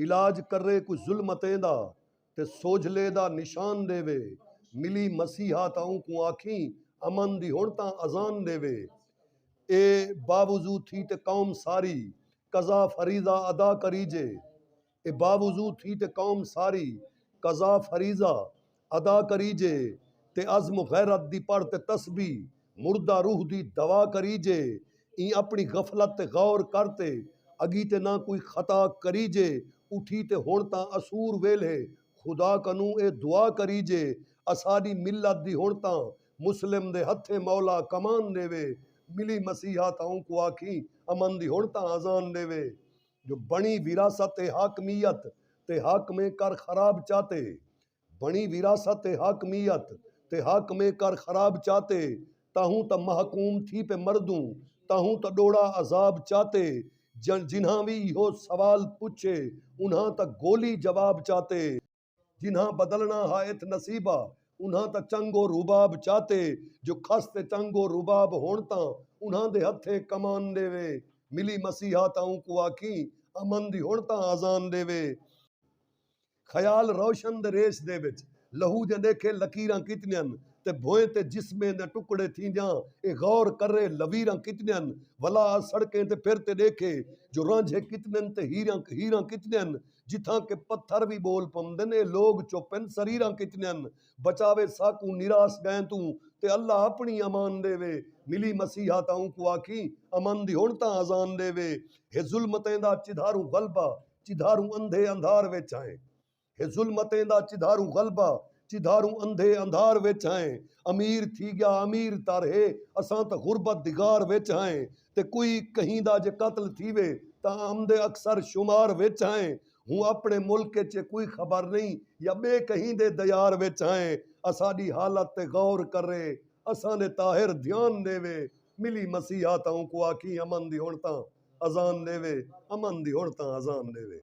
علاج کرے کوئی ظلمتیں دا تے سوجھلے دا نشان ݙیوے ملی مسیحا تاں اونکوں آکھیں امن دی ہݨ تاں اذان ݙیوے اے باوضو تھی تے قوم ساری قضا فریضہ ادا کریجے اے باوضو تھی تے قوم ساری قضا فریضہ ادا کریجے تے عزم و غیرت دی پڑھ تے تسبیح مردہ روح دی دوا کریجے ایں اپݨی غفلت تے غور کر تے اگی تے نہ کوئی خطا کریجے اٹھی تے ہݨ تاں اسور ویلھے خدا کنوں اے دعا کریجے اساݙی ملت دی ہݨ تاں مسلم دے ہتھیں مولا کمان ݙیوے ملی مسیحا تاں اونکوں آکھیں امن دی ہݨ تاں اذان ݙیوے۔ جو بݨی وراثت ء حاکمیت تے حاکمیں کر خراب چاتے بݨی وراثت ء حاکمیت تے حاکمیں کر خراب چاتے تہوں تاں محکوم تھی پے مردوں تہوں تاں ݙوڑا عذاب چاتے جنہاں وی ایہو سوال پچھے انہاں تاں گولی جواب چاتے۔ جنہاں بدلنا ہا اتھ نصیبا انہاں تاں چنگ و رباب چاتے جو کھس تے چنگ و رباب ہن تاں انہاں دے ہتھیں کمان ڈیوے ملی مسیحا تاں اونکوں آکھیں امن دی ہن تاں آذان ڈیوے خیال روشن دے ریش دے وچ لہو دیاں ڈیکھے لکیراں کتنیاں تے بھوئیں تے جسمیں دیاں ٹکڑے تھیندیاں اے غور کرے لویراں کتنیاں ولا آ سڑکیں تے پھر تے ڈیکھے جو رانجھے کتنن تے ہیراں ہیراں کتنیاں۔ جتھاں کہ پتھر وی ٻول پمدن اے لوگ چپ ہن سریراں کچنیاں ہن بچاوے ساکوں نیراس ڳئیں توں تے اللہ اپنڑی امان ݙیوے ملی مسیحا تاں اونکوں آکھیں امن دی ہنڑ تاں اذان ݙیوے ہے ظلمتیں دا چدھاروں غلبہ چدھاروں اندھے اندھار وچ ہائیں ہے ظلمتیں دا چدھاروں غلبہ چدھاروں اندھے اندھار وچ ہائیں امیر تھی ڳیا امیر تر ہے اساں تاں غربت دی غار وچ ہائیں تے کوئی کہیں دا جے قتل تھیوے تاں آمدے اکثر شمار وچ ہائیں ہوں اپنے ملک اچ اے کوئی خبر نئیں یا بے کہیں دے دیار وچ ہائیں اساڈی حالت تے غور کرے اساں دے طاہر دھیان ڈیوے ملی مسیحا تاں اونکوں آکھیں امن دی ہن تاں اذان ڈیوے امن دی ہن تاں اذان ڈیوے۔